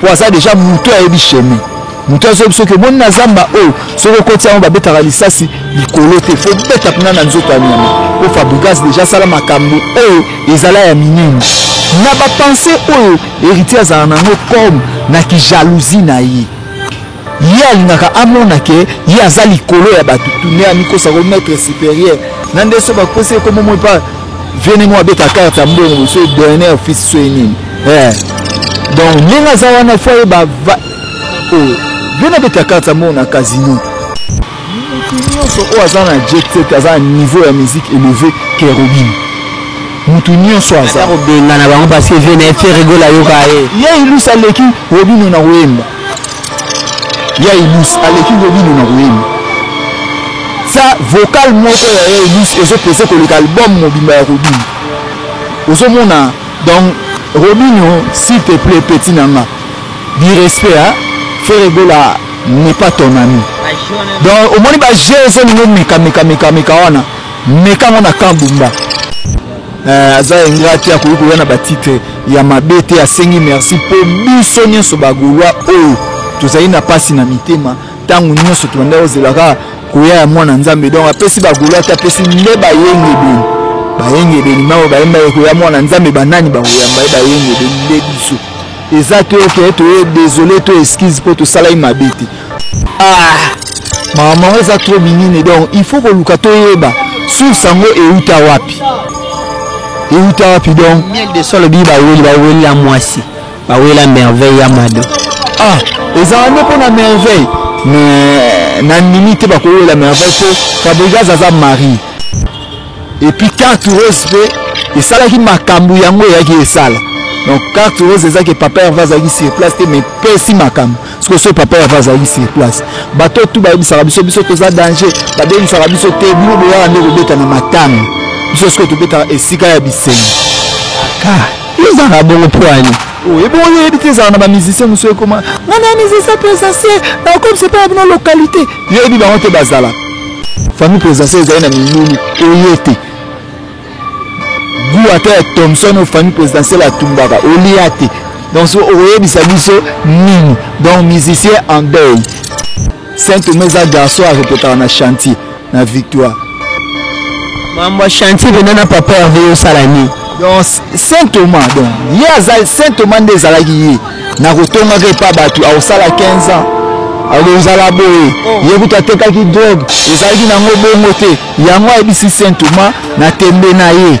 po aza deja moto ayebi chemin moto azoyebi soki omoni na zamba oyo soki okoti yango babetaka lisasi likolo te fo beta mpena na nzoto ya nyama mpo fabrigas deja asala makambo oyo ezala ya minene na bapense oyo héritier azala nango comme na kijalousie na ye Ye alingaka amona ke ye aza likolo ya bato tune amikosa ko maître supérieur na nde so bapesi ye kombo moi pa viene mo abeta karte ya mbongo so dernier office so ye nini eh. donc ndenge aza wana fo ayeba oyo oh, viene abeta karte ya mbongo na casino motu nyonso oyo aza na jet aza na niveau ya musique élevé kerobine motu nyonso aza kobengana bango parce que viene fe rigola yoka ye ye ilusa aleki robino na koyemba ya elus aleki ngo bino na koyemba sa vocal moko ya ya elus ezopese koleka album mobimba ya robin ozomona donc robinio s'il te plaît petit na nga du respect a frere gola n'est pas ton ami donc omoni ba jeu ezolingo meka meka meka meka wana meka ngo na kambumba Eh, aza engra te akoki koya na batitre ya mabe te asengi merci mpo biso nyonso bagolwa oyo tozali na mpasi na mitema ntango nyonso tobanda kozelaka koya ya mwana nzambe donc apesi bagolwa te apesi nde bayengebeni bayengebeni mao bayemba ekoya mwana nzambe banani bakoyamba ye bayengebeni nde biso eza te oke toye desole to excuse mpo tosalaki mabe te ah mawa mango eza trop minene donc il faut koluka toyeba source yango euta wapi euta wapi donc miel de solo biyi baweli baweli ya mwasi baweli ya merveille ya mado ah ezala nde mpo na merveille mais na ndimi te bakowela merveille mpo fabrigas aza marie epuis carte rose mpe esalaki makambo yango eyaki esala donc carte rose ezaki papa herve azalaki sur place te mais pesi makambo sikoyo soki papa yava azalaki sur place bato tu bayebisaka biso biso toza danger babengisaka biso te bino boyaka nde kobeta na matanga biso sikoyo tobetaka esika ya bisengo ah, ezalaka bongo mpo ani oh, ebongo yo oyebi te ezala na bamusicien mosusu ekoma nga na musicien présentiel nakokomisa mpe na bino localité yo oyebi bango te bazala famille présentiel ezali na milulu oye te goût ata ya thomson oyo famille présidentielle atumbaka olia te donc so okoyebisa biso nini donc musicien en deuil saint toma eza garçon arepotaka na chantier na victoire mambo ya chantier pena na papa herve yosala nini donc saint thomas donc ye aza saint thomas nde ezalaki ye na kotongaka epa bato akosala 15 ans akozala boye oh. ye kutu atekaki drogue ezalaki nango bongo te yango ayebisi saint thomas na tembe na ye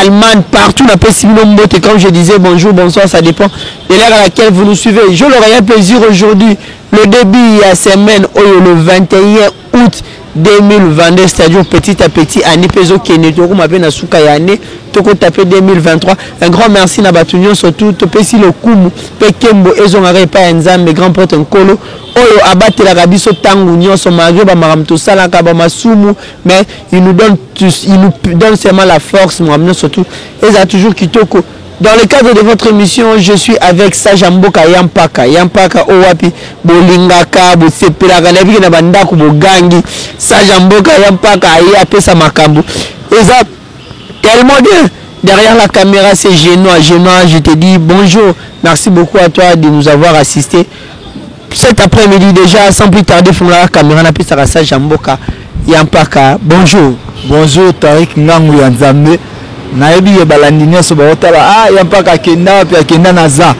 Allemagne, partout na pesi bino mbote, comme je disais, bonjour, bonsoir, ça dépend de l'heure à laquelle vous nous suivez. Je leur ai un plaisir aujourd'hui, le début à semaine, oh, le 21 août 2022, c'est-à-dire petit à petit, année peso kene, toko mabe na suka ya année, toko taper 2023. Un grand merci na batunyo, surtout, to pesi le kumu, pe kembo, ezo ngare pa enzambe, grand pote nkolo, oyo abatelaka biso ntango nyonso malgre bamakambo tosalaka bamasumu mais il nous donne tous, il nous donne seulement la force mon amour surtout et ça toujours kitoko dans le cadre de votre émission je suis avec Sage Mboka Yampaka Yampaka owapi bolingaka bosepelaka na biki na bandako bogangi Sage Mboka Yampaka aye apesa makambo eza Tellement de derrière la camera c'est Genois. Genois, je te dis bonjour. Merci beaucoup à toi de nous avoir assisté. Cet après-midi déjà, sans plus tarder, fongola la caméra na pesa ka sage mboka ya mpaka. Bonjour. Bonjour Tariq Ngangu ya Nzambe. Nayebi ye balandi nyonso baotala ah ya mpaka akenda wapi akenda naza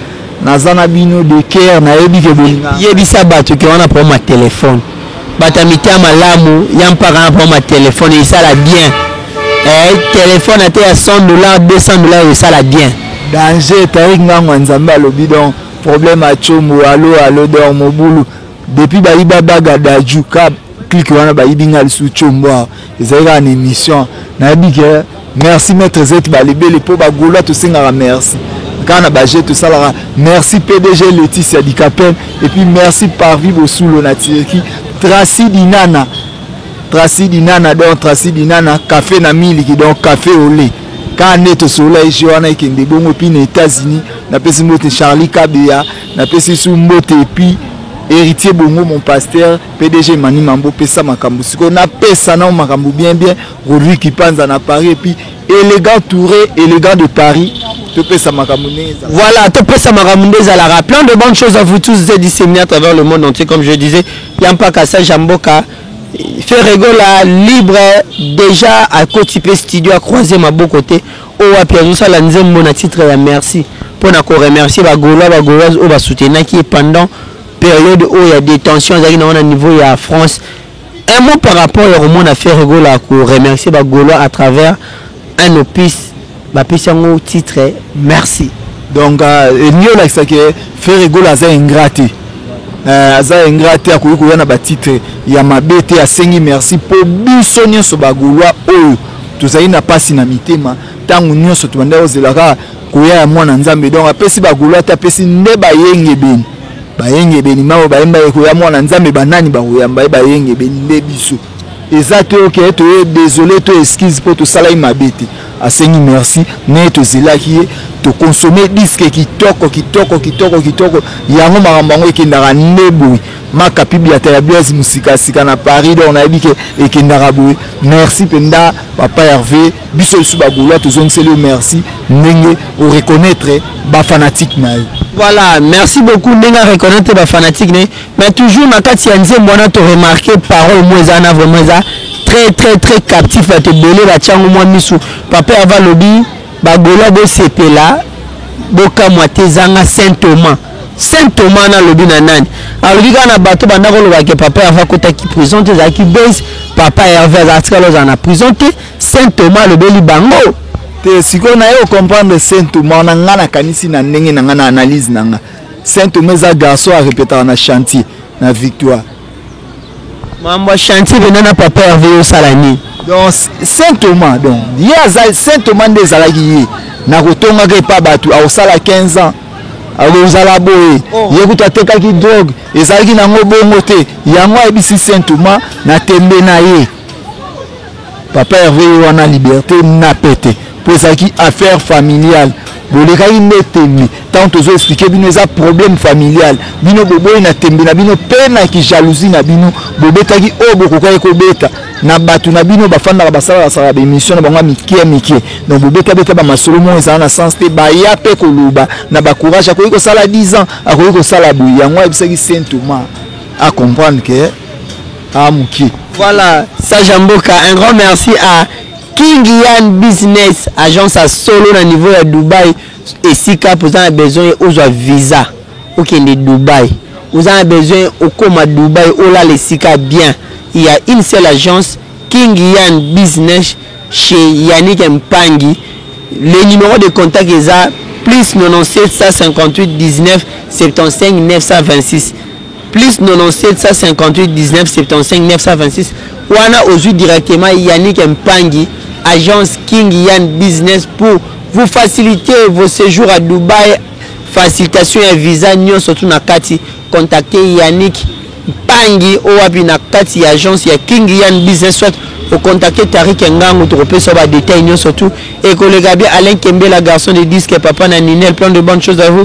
naza na bino de cœur nayebi ke bolinga. Yebisa bato ke wana problème ya telefone. Bato ya mitia malamu ya mpaka na mpo ma telefone esala bien eh, telefone ata ya 100 dollars 200 dollars esala bien danger tarik ngango ya nzambe alobi donc problème ya combo alo alo dor mobulu depuis bayiba baga daju ka klike wana bayibi nga lisusu combo awa ezali kaka na émission nayebi ke merci maître zet balibeli mpo bagolois tosengaka merci kaka na baje tosalaka merci pdg leticia dicapel epuis merci parvi bosulo na turki traci dinana traci dinana donc traci dinana café na miliki donc café ole kaka nde tosolola ege wana ekende bongo epuis na états-unis napesi mbote charlie kabeya napesi su mbote epuis héritier bongo mon pasteur pdg mani mambo pesa makambo sikoyo napesa nao makambo bien bien rodri kipanza na paris epuis élégant touré élégant de paris topesa makambo ndenge ezalaka voilà topesa makambo nde ezalaka plein de bonnes choses à vous tous êtes disséminés à travers le monde entier comme je disais ya mpaka sage ya mboka ferregola libre déjà akoti mpe studio acroise maboko te oyo wapi azosala nzembo na titre ya merci mpo na koremercier bagolois bagoloise oyo basoutenaki ye pendant Periode oyo ya detention azalaki na ngo na niveau ya France, un mot par rapport ya komona Ferre Gola ko remercier ba Golois à travers un opus bapesi yango titre merci. Donc euh, elingi olakisa ke Ferre Gola aza ingrat te. Euh, aza ingrat te akoki koya na batitre ya mabe te asengi merci mpo biso nyonso bagolwa oyo tozali na mpasi na mitema ntango nyonso tobandaki kozela kaka koya ya mwana nzambe donc apesi bagolo ata apesi nde bayengebeni bayengebeni mao bayemba ekoya mwana nzambe banani bakoyamba ye bayengebeni nde biso eza te oke toye desole to eskize mpo tosalaki mabe te asengi merci me tozelaki ye tokonsome diske kitoko kitoko kitoko kitoko yango makambo yango ekendaka nde boye Maka pibiata ya Blaise musika sika na Paris donc nayebi ke ekendaka boye. Merci penda papa Hervé, biso lisusu ba Gaulois tozongiseli yo merci ndenge o reconnaître ba fanatiques na yo. Voilà, merci beaucoup ndenge a reconnaître ba fanatiques ne mais toujours na kati ya nzembo wana to remarquer parole mo eza na vraiment eza très très très captif bato ebele batyango mwa miso papa Hervé alobi Ba golois bosepela bokamwa te ezanga saint Thomas saint Thomas wana alobi na nani alobi kaka na bato banda koloba ke papa Herve akotaki prison te ezalaki base papa Herve azala tikala ozala na prison te saint Thomas alobeli bango te sikoyo naye ocomprendre saint Thomas na nga nakanisi na ndenge na nga na analyse na nga saint Thomas eza garçon arepetaka na chantier na victoire Makambo ya chantier pena na papa Herve yo osala nini? Donc Saint Thomas donc ye aza Saint Thomas nde ezalaki ye na kotongaka epa bato akosala 15 ans akozala boye oh. ye kutu atekaki drogue ezalaki nango bongo te yango ayebisi Saint Thomas na tembe na ye Papa Herve ye wana liberte na pete mpo ezalaki affaire familiale bolekaki nde tembe ntango tozo explike bino eza problème familial bino boboyi na tembe na bino mpe na kijalousie na bino bobetaki oyo bokokaki kobeta na bato na bino bafandaka basalakasaka baémission na bango ya mikie mikie donc bobetabeta bamasolo moko ezala na sens te baya mpe koloba na bacourage akoki kosala 10 ans akoki kosala boye yango ayebisaki saint thomas acomprendre ke Ah mukie. Voilà, sage ya mboka, un grand merci à King Yan Business, agence à solo na niveau ya Dubaï. Esika poza na besoin ozwa visa okende Dubaï. Oza na besoin okoma Dubaï olala esika bien. Il y a une seule agence King Yan Business chez Yannick Mpangi. Le numéro de contact eza plus 97 158 19 75 926. plus 9758195 wana ozwi directement Yannick Mpangi agence King Yan Business pour vous faciliter vos séjours à Dubaï facilitation ya visa nyonso tu na kati contacter Yannick Mpangi oyo wapi na kati ya agence ya King Yan Business soit ocontacte Tariq Ngangu tokopesa ba détails nyonso tu ekoleka bien Alain Kembela garçon de disque papa na Ninel plein de bonnes choses à vous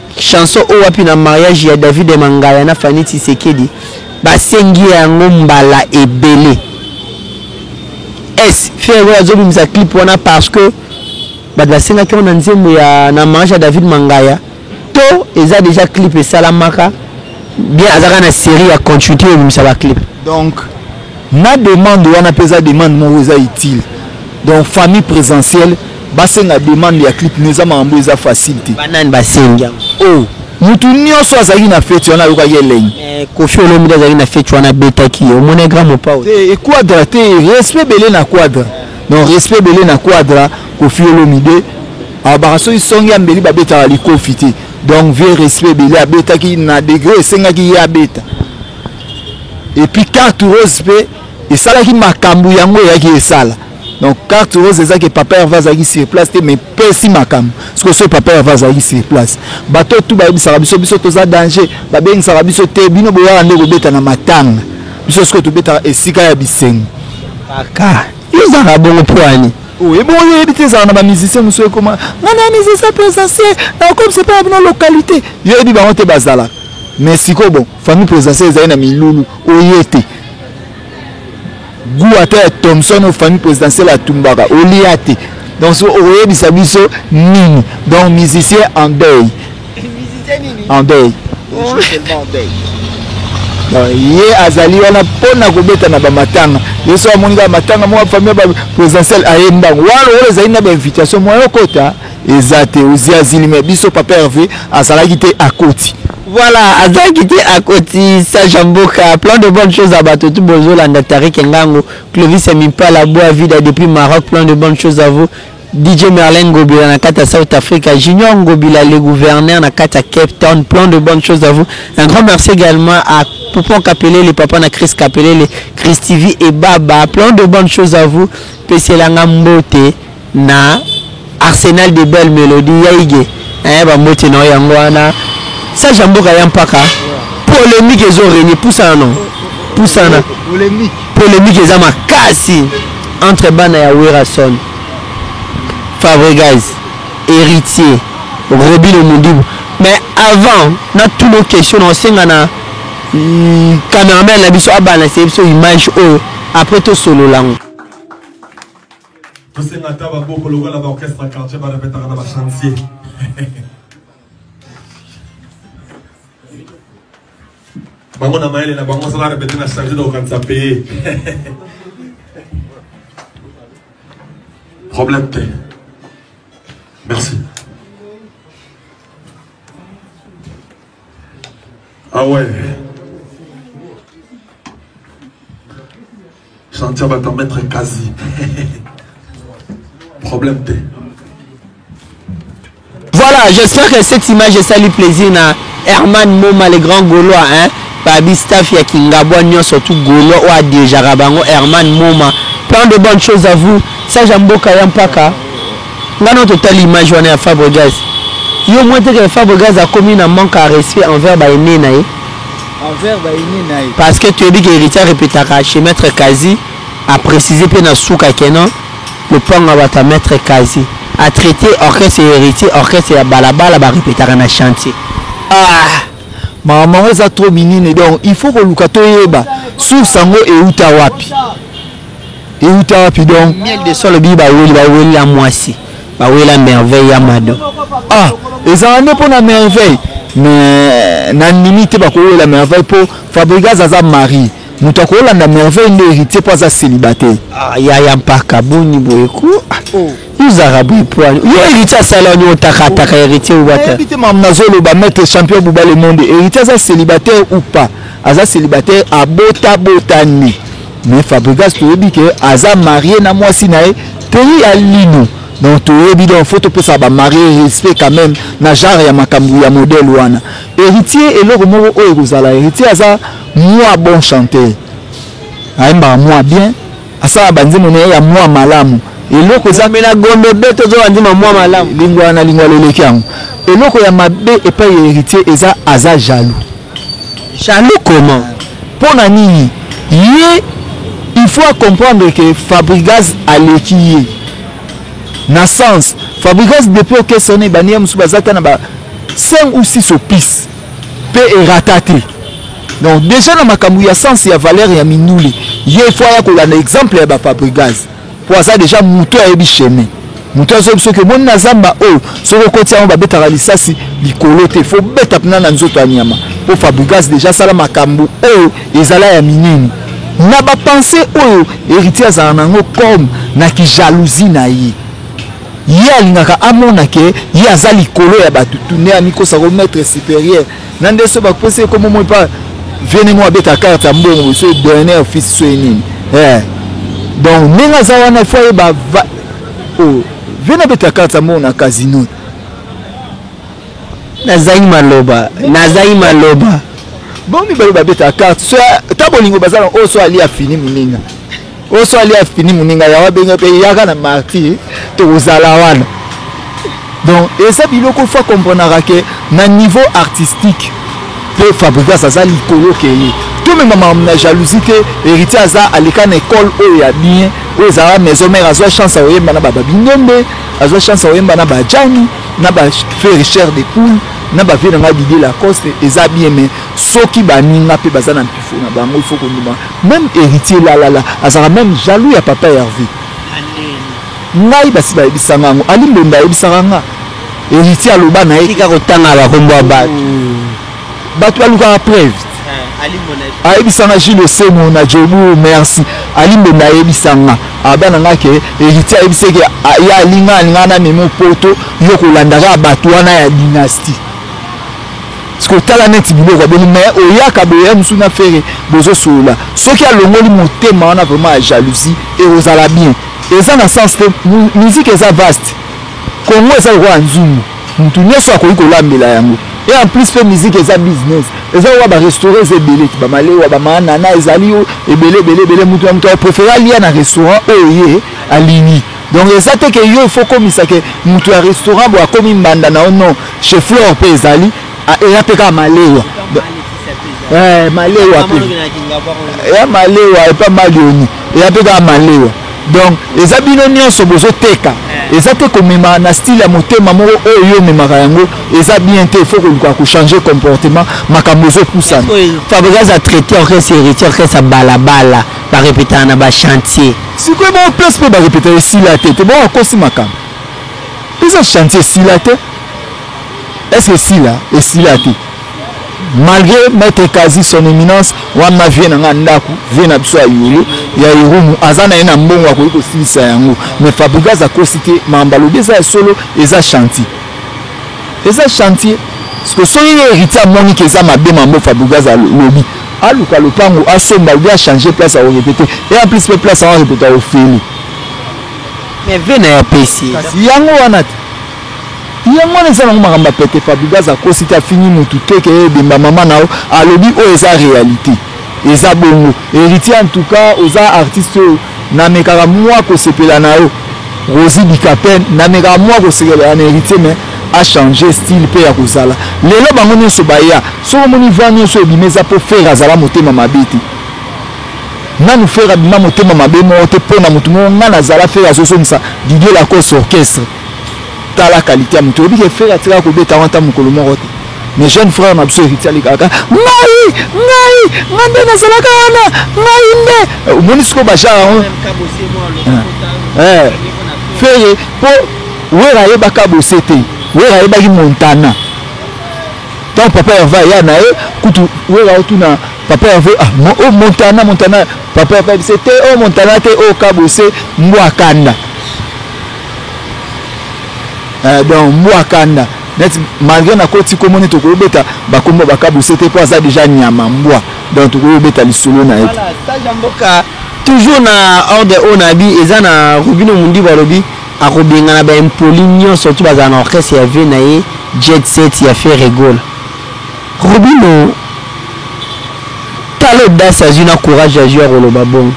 Chanson oyo wapi na mariage ya David Mangaya na Fanny Tshisekedi basengi yango mbala ebele es ferre oyo azobimisa clip wana parce que bato basengaki yango na nzembo ya na mariage ya David Mangaya to eza déjà clip esalamaka bien azaka na série ya continuité oyo ebimisa baclip donc na demande wana mpe eza demande moko eza utile donc famille présentielle Basenga demande ya clip mais eza makambo eza facile te. Ba nani basengi yango? Oh, mutu nionso azalaki na feti wana ayokaki elengi. Eh, Koffi Olomide azalaki na feti wana abetaki ye. Omona grand mopao? Te, e quadra te, respect bele na quadra. Donc respect bele na quadra, Koffi Olomide abaka soki songi ya mbeli babetaka likofi te. Donc vieux respect bele abetaki na degre esengaki ye abeta. Et puis carte rose pe esalaki makambu yango eyaki esala. donc carte rose eza ke papa herve azalaki sur place te mais pesi makambo siko so papa herve azalaki sur place bato tu bayebisaka biso biso toza danger babengisaka biso te bino boyaka nde kobeta na matanga biso siko tobetaka esika ya bisengo kaka ezaka bongo mpo ani oyo ebongo yo oyebi te ezala na bamusicien mosusu ekoma nga na musicien présentiel nakokomisa mpo na bino localité yo oyebi bango te bazalaka mais sikoyo bon famille présentiel ezali na milulu oye te Gout ata ya Thomson au famille présidentielle atumbaka olia te donc so okoyebisa biso nini donc musicien en deuil en deuil ye azali wana mpo na kobeta na bamatanga ye so amoni kaka matanga mwa famille ba présidentielle ayembango wana lokola ezali na bainvitation moya okota eza te ozi azili me biso papa herve azalaki te akoti voilà azalaki te akoti sage ya mboka plan de bonne chose ya bato tu bozolanda tarike ngango clovis ya mimpala boa vida depuis maroc plan de bonne chose à vous dj merlin ngobila na kati ya south africa junior ngobila le gouverneur na kati ya cape town plan de bonne chose à vous un grand merci également à poupon kapelele papa na chris kapelele chris tv et baba plan de bonne chose à vous peselanga mbote Na Arsenal de belle melodie ya Iggy eeh ba mbote na yo yango wana Sage ya mboka ya mpaka polemique ezo regne pusana no pusana polemique eza makasi entre bana ya Werrason Fabregas Héritier Robino Mundibu mais avant na tout nos questions na osenga na mm, cameraman na biso abalanse biso image oyo après tosolola ngo tosenga ata baboko lokola ba orchestre ya quartier barepetaka na bachantier bango na mayele na bango soki arepete na chantier na kokanisa paye problème te merci ah ouais Chantia ba ta mettre quasi. Problème te. Voilà, j'espère que cette image esali plaisir na Herman Moma le grand Gaulois hein. Babi staff ya Kingabwa nyonso tout Gaulois oyo adirigeaka bango Herman Moma. Plein de bonnes choses à vous. Sage ya mboka ya mpaka. Nga na totali image wana ya Fabregas. Yo mwe te que Fabregas akomi na manque à respect envers ba aînés na ye. envers ba aînés na ye. Parce que toyebi que Heritier a repetaka chez Maitre Kazi, a preciser mpe na suka que non lopango ya bato ya Maitre Kazi. A traiter orchestre ya Heritier orchestre ya balabala ba repetaka na chantier. Ah! Makambo yango eza trop minene donc il faut koluka toyeba source yango euta wapi? Euta wapi donc? Miel de Sol oyebi baweli bawelela mwasi. ba wela merveille ya mado ah ezala nde mpo na merveille mais na nimi te bakowela merveille mpo fabrigas aza marie moto akolanda merveille nde héritier mpo aza célibataire ah, yaya mpaka boni boye ko ah, oh. yozaka boye poani yo héritier asala wani otakataka héritier obatayebi te mama nazoloba maître champion buba le monde héritier aza célibataire ou pas aza célibataire abota botani mais fabrigas toyebi ke aza marie na mwasi na ye tei ya lino donc toyebi donc faut topesa bamarie respect quand même na genre ya makambo ya modele wana héritier eloko moko oyo ekozala héritier aza mwa bon chanteur ayembaka mwa bien asala banzembo na ye ya mwa malamu eloko ezamela gombe be tozwa ndima mwa malamu lingwa na lingwa loleki yango eloko ya mabe epai ya héritier eza aza jaloux Jaloux comment pona nini ye il faut a comprendre que fabrigaz aleki ye na sens fabrigaz depuis okesa wana ebandi ya mosusu baza ata na ba 5 ou 6 opise mpe erata te donc déjà na makambo ya sens ya valeur ya mindule ye il faut aya kolanda exemple ya ba fabrigaz po aza deja moto ayebi chemin moto azoyebi soki omoni na zamba oyo soki okoti yango babetaka lisasi likolo te fo beta mpena na nzoto ya nyama mpo fabrigas deja asala makambo oyo ezala ya minene na bapense oyo héritier azala na yango comme na kijalousie na ye ye alingaka amona ke ye aza likolo ya bato tune amikosa ko maître supérieur na nde so bakopesa ye kombo moi mpa viene moko abeta karte ya mbongo so dernier fils so ye nini eh. donc ndenge aza wana fo ayeba oh, viene abeta karte ya mbongo na casino nazangi maloba nazangi maloba bo mibale babeta karte so ta bolingo baza na oyo oh, so alia fini moninga oso ali afini moninga yawa abenge mpe yaka na martir tokozala wana donc eza biloko fa comprenaka ke na niveau artistique mpe fabrigas aza likolo keye tomema makambo na jalousie te héritier aza aleka na ekole oyo ya bien oyo ezalaka maison mare azwa chance ya koyemba na bababindombe azwa chance ya koyemba na bajani na bafericher de poule na bavie na ngai didie lacoste eza bien mai soki baninga mpe baza na mpifo na bango ifo kondima Meme heritier lalala azalaka meme jaloux ya papa Herve ngai basi bayebisa nga yango Ali mbonda ayebisaka nga heritier aloba na ye tika kotanga ba kombo ya batu hmm. batu balukaka preuve eh, ayebisa nga Gilles Osemo na Jobu merci Ali mbonda ayebisa nga abana nga ke heritier ayebisa ke ya alinga alinga na memo poto yo kolandaka batu wana ya dynastie sikoyo tala neti biloko abeli mais oyaka boya mosusu na fere bozosolola soki alongoli motema wana vraiment ya jalousie ekozala bien eza na sens te musique eza vaste congo eza lokola nzungu motu nyonso akoki kolambela yango et en plus mpe musique eza business eza owa barestaurant eza ebele ti bamalewa bamanana ezali ebele ebele ebele motu na motu akoprefere alia na restaurant oyo ye alingi Donc eza te ke yo il faut komisa ke mutu ya restaurant bo akomi mbanda na yo non chez Flore pe ezali eya pe kaka malewa eh malewa pe eya malewa epa malioni eya pe kaka malewa donc eza bino nyonso bozoteka eh. eza te komema na style ya motema moko oyo yo omemaka yango eza bien te faut koluka kochange comportement makambo ezopusana fabrigas atraite orchestre héritier orchestre balabala Ba repetaka na ba chantier. Sikoyo bango place mpe ba repetaka esila te te bango akosi makambo. Eza chantier esila te. Est-ce que esila esila te. malgré maître kazi son éminence wana vie na ngai ndako vie na biso ya yulu ya irumu aza na ye na mbongo akoki kosilisa yango mais fabrigas akosi te makambo alobi eza ya solo eza chantier eza chantier siko soki ye héritier amoni ke eza mabe mambo fabrigaz alobi aluka lopango asomba obi achange place ya korepete e en plus mpe place yango arepete ya ofeli mais ve na ya pesi kasi yango wana te yango wana eza nango makambo ya pete fabrigaz akosi te afingi motu te ke ebemba mama na yo alobi oyo eza réalité eza bongo héritier en tout cas oza artiste oyo na mekaka mwa kosepela na yo rosi bikapen na mekaka mwa kosepela na héritier mais a changer style mpe ya kozala lelo bango nyonso baya soki omoni va nyonso ebima eza mpo fere azala motema mabe te nanu fere abima motema mabe moko te mpo na motu moko ngai nazala fere azozongisa didie lacoste orchestre tala kalite ya motu oyebi ke fere atikaka kobeta yango ata mokolo moko te Mais jeune frère na biso héritier aleka kaka ngai ngai ngai nde nazalaka wana ngai nde eh, omoni sikoyo bajar yango eh, eh, fere mpo wera ayebaka bose te wera ayebaki montana ntango papa herve aya na ye kutu wera otuna papa herve ah, mo, oh, montana montana papa herve ayebise te o oh, montana te o oh, kabose mbwa kanda eh, donc mbwa kanda neti malgré na koti kombo neti okoki obeta bakombo ya bakabuse te mpo aza deja nyama mbwa donc tokoki obeta lisolo na ye toujours na ordre oyo na bi eza na robino mundibu alobi akobengana baimpoli nyonso ti bazala na orchestre ya vie na ye jet set ya ferre gola robino tala odasi azwi na courage azwi ya koloba bongo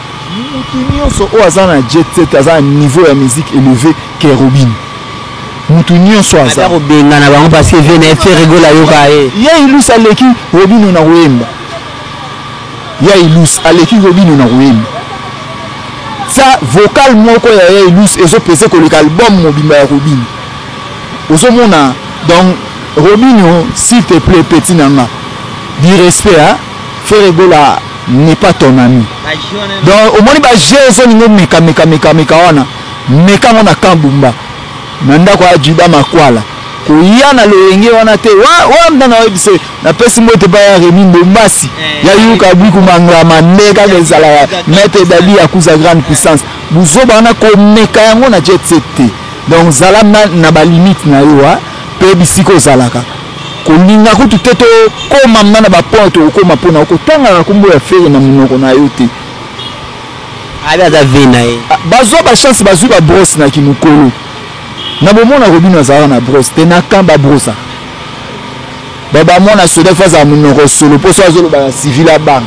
motu nyonso oyo aza na jet set aza na niveau ya musique élevé ke robino mutu nionso aza ata kobengana bango parce que vie na ye ferre gola ayoka ye ya ilus aleki robino na koyemba ya ilus aleki robino na koyemba sa vocal moko ya ya ilus ezopese koleka album mobimba ya robino ozomona donc robino s'il te plaît petit na nga du respect hein? ferre gola n'est pas ton ami donc omoni ba jeu ezolinga omeka meka meka meka wana Meka ngo na camp Bumba na ndako ya Juda Makwala koya na loyenge wana te wa wa mna na webise na pesi mbote pa ya Remi Bombasi eh. ya Yuka Biku Manglama nde kaka ezala ya Maître Dadi ya Kuza Grande Puissance buzoba wana komeka yango na jet set te donc zala na, na ba limite na yo wa pe bisika ozalaka kolinga kutu te tokoma mna na ba point tokokoma mpona okotangaka kombo ya fere na monoko na yo te Abi aza vie na ye. Bazua ba chance bazui ba brosse na ki mukolo. Na bomona Robino azalaka na brosse te na camp ba brossa. Ba ba mwana soda fa za munoko solo poso azoloba na civil abanga.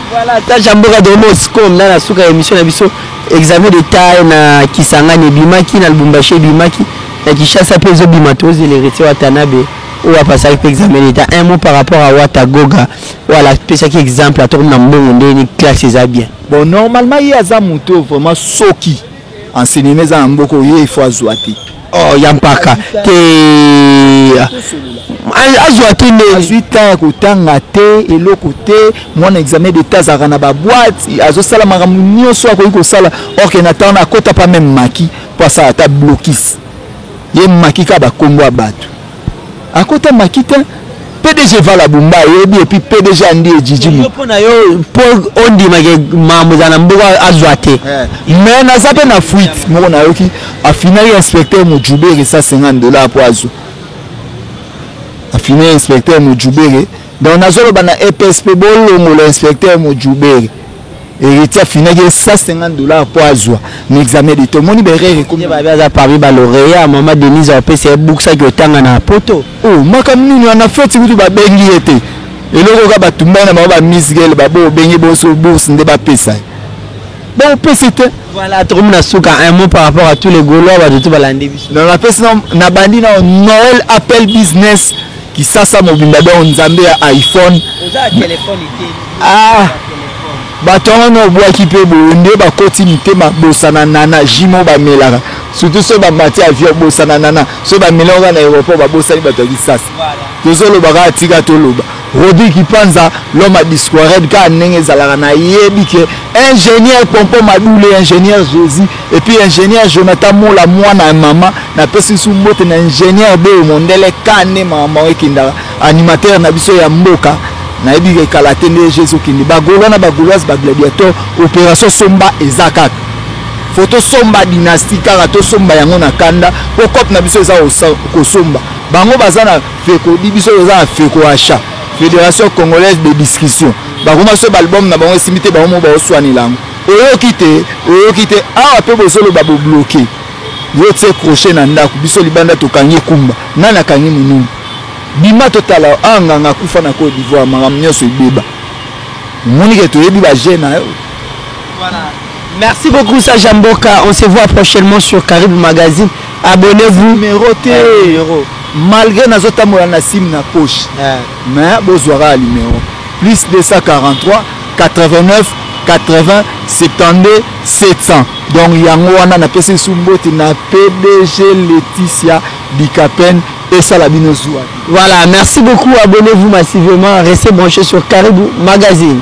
Voilà, ta jamboka de Moscom na na suka ya emission na biso examen de taille na Kisangani ebimaki na Lubumbashi ebimaki na Kinshasa pe ezobima tozele rete Watanabe oyo apasaki pe examen d'etat un mot par rapport à Wata Goga wala pesaki exemple atoko na mbongo nde ni classe eza bien bon normalement ye aza moto vraiment soki enseignement eza na mboka oye ifo azwa te oh ya mpaka te azwa te nde azwi temps ya kotanga te eloko te mwana examen d'etat azalaka na baboite azosala makambo nyonso akoki kosala orke na ntango na akota pa meme maki mpo asala ata blokis ye maki kaka bakombo ya bato Akota makita PDG vala bumba ayebi epi PDG andi ejiji yo mpo na yo mpo ondima ke mambo ezala na mboka azwa te eh. mais naza mpe na fuite moko nayoki afinaki inspecteur mojubere 150 dollar mpo azwa afini inspecteur mojubere donc nazoloba na eps mpe bolongola inspecteur mojubere héritier afinaki ye 150 dollars mpo azwa na examen de tomoni berere ekomi babe aza parmi baloreya mama denise apesa ye bukisaki otanga na poto o oh, makambo nini wana feti kutu babengi ye te eloko kaka batumbani na bango bamisgel babo obengi boso bourse nde bapesa ye baopesi te voilà tokomi na suka un mot par rapport à tous les golois bato tu balandi biso na napesi na bandi na noël appel business Kisasa mobimba donc nzambe ya iPhone. Oza telephone te. Ah. Bato yango na obwaki mpe boye nde bakoti mitema bosana nana jimo bamelaka surtout soki bamati avion bosana nana soki bamelaka na aéroport babosani bato ya kisasa tozoloba kaka tika toloba robi kipanza loma discoired kaka ndenge ezalaka nayebi ke ingénieur pompo madule ingénieur jésus Et puis ingénieur Jonathan Mola mwana ya mama napesi biso mbote na ingénieur Beo Mondele kane mama ekindaka animateur na biso ya mboka nayebi ekala te nde Jésus kindi bagolois na bagoloise bagladiateur opération somba eza kaka fo tosomba dynastie kaka tosomba yango na kanda mpo cope na biso eza kosomba bango baza na feko di biso toza na feko achat fédération congolaise de discussion bakoma biso baalbum na bango esimbi te bango mo baoswanela yango Oyoki te oyoki te awa pe bozo loba bo bloque yo tie crochet na ndaku biso libanda tokangi kumba nani akangi mununi bima totala yo awa nganga akufa na cote d'ivoire makambo nyonso ebeba omoni ke toyebi ba jeu na yo voilà merci beaucoup sage ya mboka on se voit prochainement sur Caribe magazine abonnez-vous numéro te eh, numéro malgré nazotambola na sim na poche eh. mais bozwaka ya numéro plus 243 89 80 72 700 donc yango wana napesi lisusu mbote na pdg leticia bikapen esala bino zuwa voilà merci beaucoup abonnez vous massivement restez branché sur caribou magazine